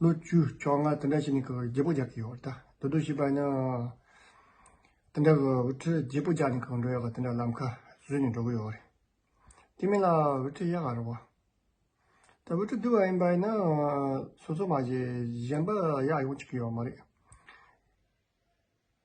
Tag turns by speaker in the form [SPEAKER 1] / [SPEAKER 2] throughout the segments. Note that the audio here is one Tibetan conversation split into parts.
[SPEAKER 1] ལོ་བཅུ་བཅོ་ལྔ་དེ་འདྲ་ཞིག་ནས་ཁོས་རྒྱལ་པོ་རྒྱག་གི་ཡོད་ད་དོ་དོ་ཞེས་པ་ཡིན། དེ་འདྲ་ཁོས་འོད་ཁྲིར་རྒྱལ་པོ་རྒྱག་ནས་ཁོས་འགྲོ་ཡག་ག་དེ་འདྲ་ལམ་ཁ་བཟོས་ནས་འགྲོ་གི་ཡོད་རེད། དེ་མིན་ལ་འོད་ཁྲི་གཡག་ག་རེད་བ། ད་འོད་ཁྲི་དུལ་བ་ཡིན་པ་ཡིན་ན་སོ་སོ་མ་གཞན་པ་གཡག་ཡོང་བཅུག་གི་ཡོད་མ་རེད།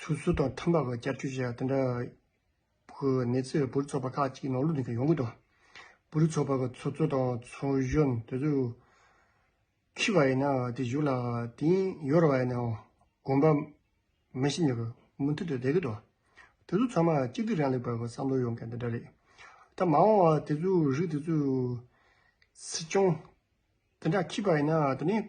[SPEAKER 1] ཚུལ་སུ་དང་ཐ་མ་བར་བསྐྱར་བཅོས་བྱས་པ་དེ་འདྲ་བོ་ནི་ཚེ་བའི་བུ་རུ་ཚོགས་པ་ཁག་ཅིག་ནང་ལུགས་འདི་གར་ཡོང་གི་འདུག་བུ་རུ་ཚོགས་པ་གི་ཚོགས་གཙོ་དང་ཚོགས་གཞོན་དེ་ཚོས་ཁྱི་བ་ཡིན་ན་དེ་བཞུགས་ལ་དེང་ཡོར་བ་ཡིན་ནའང་དགོན་པ་མི་ཤི་ཉོ་གི་མུ་མཐུད་དུ་བསྡད་ཀྱི་འདུག་དེ་ཚོ་ཚང་མ་གཅིག་སྡུད་རང་ལས་པ་གི་བསམ་བློ་ཡོང་མཁན་དེ་འདྲ་རེད། ད་མ་འོངས་བར་དེ་ཚོའི་རིགས་དེ་ཚོས་སྲིད་སྐྱོང་དེ་འདྲ་ཁྱི་བ་ཡིན་ན་དེ་ནས་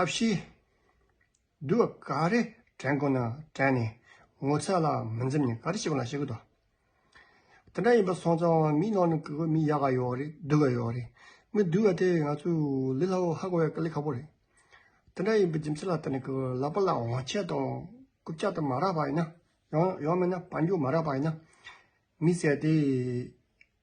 [SPEAKER 1] ཐབས་ཤེས། དུ་བ་ག་རེ་དྲན་དགོས་ན་དྲན་ནས་ངོ་ཚ་ལ་མི་འཛེམ་ནས་ག་རེ་བྱེད་དགོས་ན་བྱེད་དགོས་ཏོ། དེ་འདྲ་ཡིན་པ་སོང་ཙང་མིའི་ནང་ནས་གི་གོ་མི་ཡག་ག་ཡོད་རེད་སྡུག་ག་ཡོད་རེད་མི་སྡུག་བ་དེ་ང་ཚོས་ལི་ལྷ་བོ་ཧ་གོ་བའི་ཀ་ལི་ཁ་པོ་རེད། དེ་འདྲ་ཡིན་པའི་རྒྱུ་མཚན་ལ་ལྟ་ནས་གི་ལག་པ་ལ་འོང་ཆས་དང་རྐུབ་ལྕག་དེ་མ་རག་པ་ཡིན་ན། ཡང་མེད་ན་བ་འགྱུར་མ་རག་པ་ཡིན་ན། མི་བསད་དེ།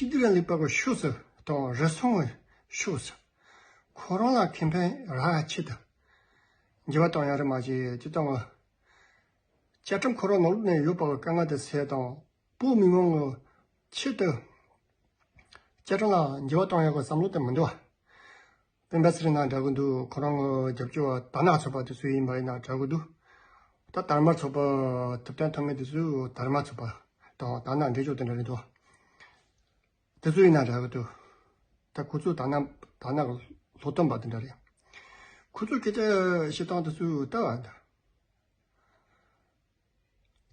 [SPEAKER 1] གཅིག་བདེ་ལ་ལས་པར་བ་ཤོས་སུ་དང་རུ་སོང་བ་ཤོས་སུ། ཁོ་རང་ལ་ཁེ་ཕན་ར་ཆེད་དུ། འགྱེལ་བ་དང་ཡང་རེ་མ་བྱེད་ཅེས་བཏང་བ། བཅའ་ཁྲིམས་ཁོ་རང་ནང་ལུགས་ནས་ཡོད་པ་བ་ཀ་ང་དང་སེ་དང་པོ་མི་མང་གི་ཆེད་དུ། བཅའ་ཁྲིམས་ལའང་འགྱེལ་བ་བཏང་ཡོད་པ་བསམ་བློ་དེ་མི་འདུག་བ། སྤེན་པ་སེར་ནག་འདྲ་གི་འདུག་ཁོ་རང་རྒྱབ་སྐྱོར་བ་དར་ནག་ཚོགས་པ་དེ་ཚོ་ཡིན་པ་ཡིན་ན་འདྲ་གི་འདུག་ད་དར་དམར་ཚོགས་པ་ཐུབ་བསྟན་ཐོབ་མཁན་དེ་ཚོས་དར་དམར་ཚོགས་པ་དང་དར་ནག་འདྲེས་ཆོག་དེ་འདྲ་རེད་འདུག་དེ་ཚོ་ཡིན་ན་འདྲ་གི་འདུག་ད་ཁོ་ཚོས་དར་ནག་དར་ནག་ལོ་སྟོན་པ་དེ་འདྲ་རེད། ཁོ་ཚོས་སྐད་ཆ་བཤད་སྟངས་དེ་ཚོས་ལྟ་བ།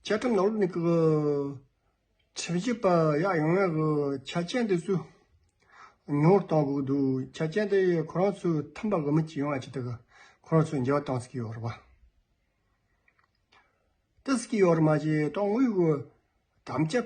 [SPEAKER 1] བཅད་ཁྲིམས་ནང་ལོགས་ནས་ཀྱི་ཁྲིམས་ཞིབ་པ་ཡག་ཡོང་བའི་གི་ཆ་རྐྱེན་དེ་ཚོས་ཉུང་བར་གཏོང་དགོས་འདུག་ཆ་རྐྱེན་དེ་ཁོ་རང་ཚོས་ཐུམ་པ་གི་མི་གཅིག་ཡོང་བ་བྱས་ཏེ་གི་ཁོ་རང་ཚོས་འགྱེལ་བ་གཏང་སྲིད་ཀྱི་ཡོད་རེད་པ། གཏི་སྲིད་ཀྱི་ཡོད་རེད་མ་གཞི་ཏང་ཨུའི་གི་དམ་བཅའ་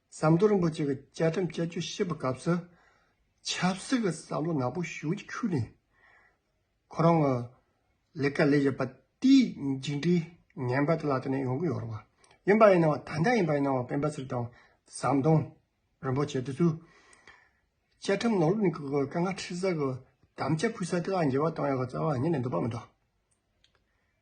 [SPEAKER 1] ཟམ་གདོང་རིན་པོ་ཆེ་གི་བཅའ་ཁྲིམས་དཔྱད་བརྗོད་བཤད་པའི་སྐབས་སུ། ཆབ་སྲིད་ཀྱི་བསམ་བློ་ནག་པོ་ཞུགས་ཀྱི་ཁུལ་ནས། ཁོ་རང་གི་ལས་ཀ་ལས་བཞིན་པ་དེའི་མཇུག་འབྲས་ངན་པ་དེ་ལ་བརྟེན་ནས་ཡོང་གི་ཡོད་རེད་བ། ཡིན་པ་ཡིན་ན་བ་ད་ལྟ་ཡིན་པ་ཡིན་ན་བ་སྤེན་པ་ཚེ་རིང་དང་ཟམ་གདོང་རིན་པོ་ཆེ་དེ་ཚོས། བཅའ་ཁྲིམས་ནོར་ལུག་ནི་གི་གི་ཀ་ང་ཁྲིད་ས་གི་དམ་བཅའ་ཕུལ་ས་དེ་ལ་འགྱེལ་བ་གཏོང་ཡག་གི་རྩ་བ་ཉིད་ནས་འདུག་པ་མི་འདུག།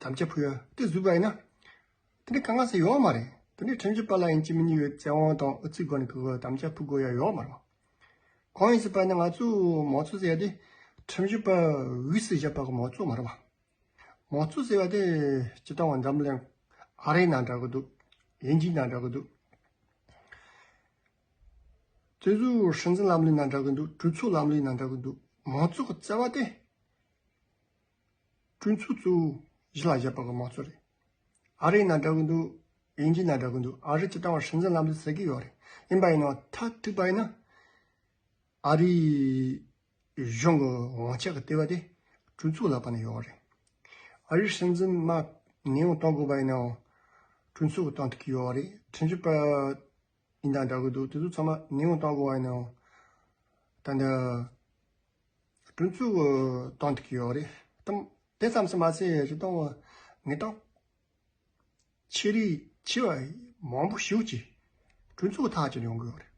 [SPEAKER 1] དམ་བཅའ་ཕུལ་ཡང་དེ་བཟོས་པ་ཡིན་ན། དེ་ནི་ག་ང་སེ་ཡོད་མ་རེད། དེ་ནི་ཁྲིམས་ཀྱི་པ་ལགས་ཡིན་གྱི་མི་གཉིས་ཡོད་ཚེ་དབང་དང་ཨུ་ཚིགས་སྒོ་ནས་གི་གི་དམ་བཅའ་ཕུལ་དགོས་ཡ་ཡོད་མ་རེད། གང་ཡིན་ཟེར་པ་ནི་ང་ཚོས་མང་གཙོ་ཟེར་ཡ་དེ་ཁྲིམས་ཀྱི་པ་འུས་སུ་བཞག་པ་གི་མང་གཙོ་མ་རེད་པ། མང་གཙོ་ཟེར་བ་དེ་སྤྱི་བཏང་བ་འཛམ་གླིང་ཨ་རའི་ནང་འདྲ་གི་འདུག་དབྱིན་ཇིའི་ནང་འདྲ་གི་འདུག། བཙོན་ཟུར་སྲིད་འཛིན་ལམ་ལུགས་ནང་འདྲ་གི་འདུག་གྲོས་ཚོགས་ལམ་ལུགས་ནང་འདྲ་གི་འདུག་མང་གཙོ་གི་བརྩེ་བ་དེ། ཀྲུང་ཚུ་ཙུའུ། གཞི་ལ་བཞག་པ་གོ་མ་ཚོ་རེད། ཨ་རིའི་ནང་འདྲ་གི་འདུག་དབྱིན་ཇིའི་ནང་འདྲ་གི་འདུག་ཨ་རི་སྤྱི་དྲང་བ་སྲིད་འཛིན་ལམ་དུ་ཟེར་གི་ཡོད་རེད་ཡིན་པ་ཡིན་ནའོ་ཐ་དྲིས་པ་ཡིན་ན། ཨ་རིའི་གཞུང་གི་དབང་ཆ་གི་ལྟེ་བ་དེ་ཀྲུང་ཚུའུ་ལག་པ་ནས་ཡོད་རེད། ཨ་རིའི་སྲིད་འཛིན་མ་ནེའུ་གཏོང་དགོས་པ་ཡིན་ནའོ་ཀྲུང་ཚུའུ་གི་གཏོང་ཐུབ་ཀྱི་ཡོད་རེད་དྲིན་ཆུ་པ། ཡིན་དང་འདྲ་གི་འདུག་དེ་ཚོ་ཚང་མ་ཉེས་ངོ་བཏང་དགོས་བ་ཡིན་ནའོ། ད་ནི། དྲུང་ཆུ་གི་གཏམ་དེ་གི་ཡོག་རེད་དམ། དེ་ཙམ་ཟེར་མ་ཟེར་རི་སྟོང་བ། ངེད་སྟོང། ཆེ་རིགས་ཆེ་བ་མང་པོ་ཞུགས་ཀྱིས། དྲུང་ཆུ་གི་ཐག་གཅོད་ཡོང་གི་ཡོག་རེད།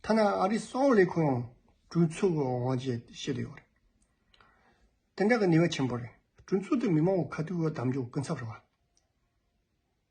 [SPEAKER 1] ཐ་ན་ཨ་རིའི་གསང་བ་ལས་ཁུང་ཡང་དྲུང་ཆུ་གི་དབང་བྱས་ཏེ་བཤད་དུ་ཡོག་རེད། དེ་འདྲ་གི་ནུས་བ་ཆེན་པོ་རེད། དྲུང་ཆུ་དེ་མི་མང་བོ་ཁ་ཐུག་གི་དམ་འཇོག་ཀུན་ཚབ་རེད་བ།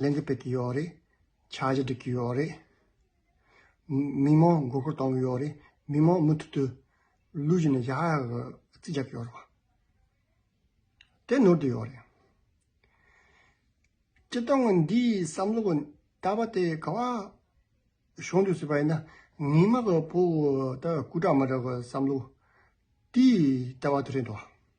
[SPEAKER 1] ལན་འདེབས་ཀྱི་ཡོད་རེད། འཆར་གཞི་སྒྲིག་གི་ཡོད་རེད། མི་མང་མགོ་སྐོར་གཏོང་གི་ཡོད་རེད། མི་མང་མུ་མཐུད་དུ་ལུས་ཀྱི་ནས་ཞག་ཡག་གི་རྩིས་རྒྱག་གི་ཡོད་རེད། དེ་ནོར་དུ་ཡོད་རེད། སྤྱི་སྟངས་ངོས་འདིའི་བསམ་བློ་གི་ལྟ་བ་དེ་ག་བ་ཤོང་འདོད་སྲིད་པ་ཡིན་ན་ངེད་མ་གི་བུ་ལྟ་བུ་སྐུ་དྲག་མ་དྲག་གི་བསམ་བློ་དེའི་ལྟ་བ་དེ་རེད་འདུག།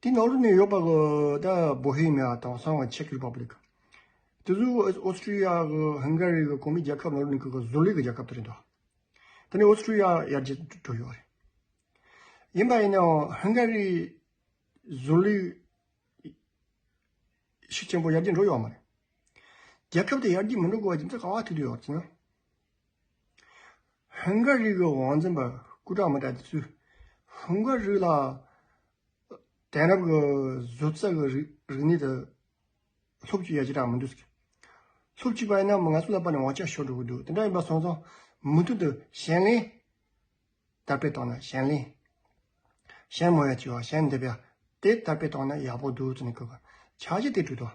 [SPEAKER 1] དེའི་ནང་དུ་ནི་ཡོད་པ་གི་ད་བོ་ཧེ་མེ་ཡ་དང་སང་བ་ཆེ་ཀི་རི་པ་པི་ལི་ཀ། དེ་ཚོ་ཨོ་སི་ཀྲི་ཡ་གི་ཧིན་གྷ་རི་གི་གོང་མའི་རྒྱལ་ཁབ་ནང་དུ་ནི་གི་གི་བཟོ་ལས་ཀི་རྒྱལ་ཁབ་དེ་རེད་འདུག་དེ་ནི་ཨོ་སི་ཀྲི་ཡ་ཡར་རྒྱས་འགྲོ་ཡོད་རེད། ཡིན་པ་ཡིན་ནའང་ཧིན་གྷ་རི་བཟོ་ལས་ཤུགས་ཆེན་པོ་ཡར་རྒྱས་འགྲོ་ཡོད་མ་རེད། རྒྱལ་ཁབ་དེ་ཡར་རྒྱས་མི་འགྲོ་དགོས་པ་རྒྱུ་མཚན་གང་བ་ཐུག་དུ་ཡོད་ཅེ་ན། ཧིན་སྒོར་རིགས་ཀྱི་བང་འཛིན་པ་སྐུ་དྲག་མི་དྲག་དེ་ཚོས་ཧིན་སྒོར་རིགས་ལ་དེང་རབས་ཀྱི་བཟོ་རྩལ་གྱི་རིག་གནས་དེ་ལྷུག་གཅིག་ཡ་གཅིག་དྲག་མི་འདུག་ཟེར། ལྷུག་གཅིག་པ་ཡིན་ན་མི་ང་ཚོ་ལ་པར་ནས་བང་ཆ་ཤོར་འགྲོ་གི་འདུག་དེ་འདྲ་ཡིན་པ་སོང་ཙང་མུ་མཐུད་དུ་གཞན་ལེན་དར་སྤེལ་གཏོང་ན་གཞན་ལེན། གཞན་མོ་ཡ་བྱས་པ་གཞན་འདེབས་ཡ་དེ་དར་སྤེལ་གཏོང་ན་ཡག་པོ་འདུག་ཟེར་ནས་བསྐུལ་བ་བྱ་གཞི་དེ་བསྒྲུབས་ཐོག་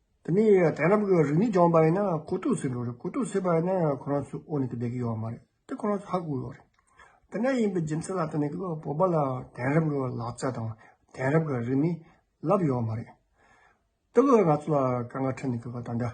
[SPEAKER 1] དེ་ནས་དེ་རྣམས་ཀྱི་རིགས་ནི་སྦྱངས་པ་ཡིན་ན་གོ་ཐོས་སུ་འགྲོ་རེད་གོ་ཐོས་སུ་བྱས་པ་ཡིན་ན་ཁོ་རང་ཚོའི་དབུ་ནས་ཀྱི་བསྡད་ཀྱི་ཡོད་མ་རེད་དེ་ཁོ་རང་ཚོ་ཧ་གོ་ཡོད་རེད། དེ་འདྲ་ཡིན་པའི་རྒྱུ་མཚན་ལ་དེ་ནས་ཀྱི་བོད་པ་ལ་དེང་རབས་ཀྱི་ལག་ཆ་དང་དེང་རབས་ཀྱི་རིགས་མི་ལབ་ཡོད་མ་རེད། དེ་ཀྱི་ང་ཚོ་ལ་དཀའ་ངལ་འཕྲད་ནས་ཀྱི་བ་ད་འདྲ།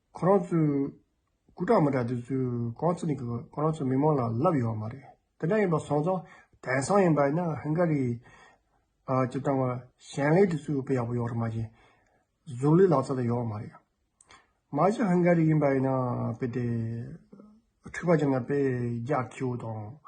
[SPEAKER 1] ཁོ་རང་ཚོས་སྐུ་དྲག་མི་དྲག་དེ་ཚོས་གང་ཚུགས་ནས་ཁོ་རང་ཚོའི་མི་མང་ལ་ལབ་ཡོད་བ་མ་རེད། དེ་འདྲ་ཡིན་པ་སོང་ཙང་དེང་སང་ཡིན་པ་ཡིན་ན་ཧིན་གྷ་རི་ཀྱི་ཏང་བ་གཞན་ལས་དེ་ཚོའི་དབུ་པེ་ཡག་པོ་ཡོད་རེད་མ་གཞི་གཟུགས་ལས་ལག་རྩལ་དང་ཡོད་བ་མ་རེད། མ་གཞི་ཧིན་གྷ་རི་ཡིན་པ་ཡིན་ན་དཔེ་དེ་འཁྲུག་པ་ཅན་ལ་དཔེ་རྒྱག་ཁྱི་བོ་དང།